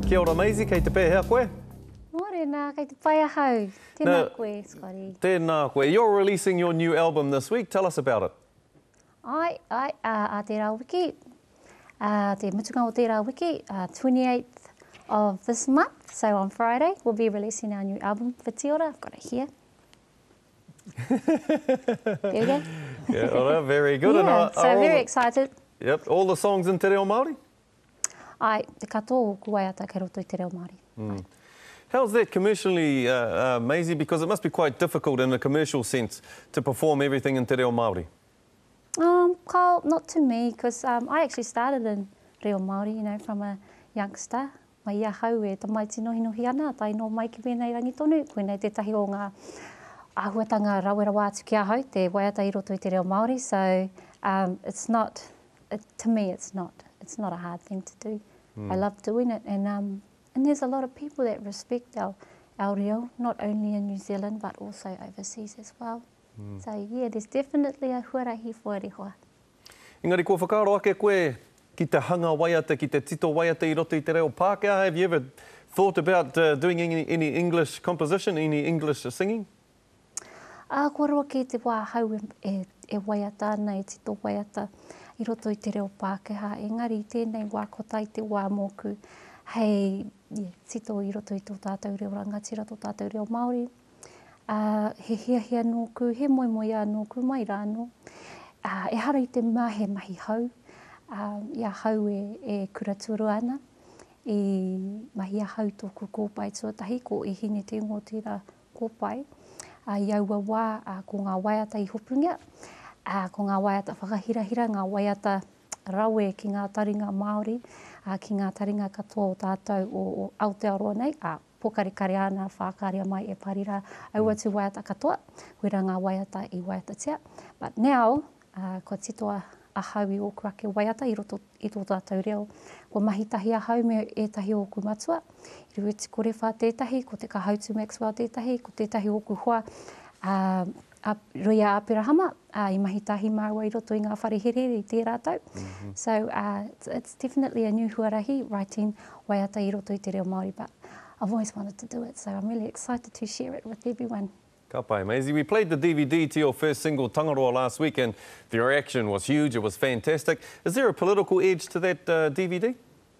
Kia ora Maisie, kei te pēhea koe? Mōrena, kei te pai ahau. Tēnā now, koe, Scotty. Tēnā koe. You're releasing your new album this week. Tell us about it. Ai, ai, a, a tērā wiki, a te mutunga o tērā wiki, a 28th of this month, so on Friday, we'll be releasing our new album, Whitiora, I've got it here. There we go. Kia ora, very good. Yeah, so I'm very excited. Yep, all the songs in te reo Māori? Ai, te katoa o ōku waiata kei roto i te reo Māori. Mm. How's that commercially, uh, uh, Maisie? Because it must be quite difficult in a commercial sense to perform everything in te reo Māori. Um, Kyle, not to me, because um, I actually started in reo Māori, you know, from a youngster. Mai i ahau e tamaiti nohinohi ana, tae noa mai ki wēnei rangi tonu, koinei tētahi o ngā āhuatanga rawe rawa atu ki ahau, te waiata i roto i te reo Māori, so um it's not, to me it's not, it's not a hard thing to do, I love doing it and um and there's a lot of people that respect our reo, not only in New Zealand but also overseas as well. So yeah, there's definitely a huarahi for Ari Hoa. Engari kua whakaaro ake koe ki te hanga waiata, ki te tito waiata i roto i te reo Pākehā, have you ever thought about doing any, any English composition, any English singing? Ā, kua roa kē te wā ahau e, e, e waiata ana, e tito waiata i roto i te reo Pākehā. Engari i tēnei wā, ko tai te wā mōku hei yeah, tito i roto i tō tātou reo rangatira, tō tātou reo Māori. Ā, he hiahia nōku, he moemoeā nōku mai rānō. Ā, ehara i te mea he mahi hou, ā, i ahau e, e kura tuarua ana, i mahi ahau tōku kōpae tuatahi, ko E Hine Te Ingoa tērā kōpae. Ā, i aua wā, ā, ko ngā waiata i hopungia, ā, ko ngā waiata whakahirahira, ngā waiata rawe ki ngā taringa Māori, ā, ki ngā taringa katoa o tātou o Aotearoa nei, ā, pōkarekare āna whākarea mai e Pari rā, aua tū waiata katoa, koirā ngā waiata i waiatatia. But now, ā, kua titoa ahau i ōku ake waiata i roto i tō tātou reo. Kua mahi tahi ahau me ētahi o ōku matua, i Ruetikore whā tētahi, ko Te Kahautu Maxwell tētahi, ko tētahi o ōku hoa, ā, a Roia Aperahama, ā, i mahi tahi māua i roto i ngā whare herehere i tērā tau. So, uh, it's definitely a new huarahi, writing waiata i roto i te reo Māori, but I've always wanted to do it, so I'm really excited to share it with everyone. Ka pai, Maisie. We played the DVD to your first single, Tangaroa, last week, and the reaction was huge, it was fantastic. Is there a political edge to that uh, DVD?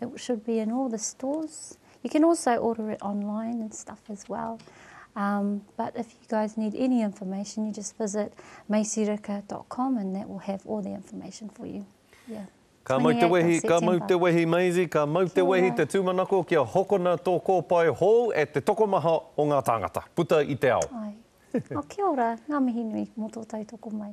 It should be in all the stores. You can also order it online and stuff as well. Um, but if you guys need any information, you just visit maisirika.com and that will have all the information for you. Yeah. Ka mau te wehi, ka mau te wehi Maisie, ka mau te wehi te tūmanako kia hokona tō kōpae hou e te tokomaha o ngā tāngata, puta i te ao. Ai. Oh, kia ora, ngā mihi nui mō tō tautoko mai.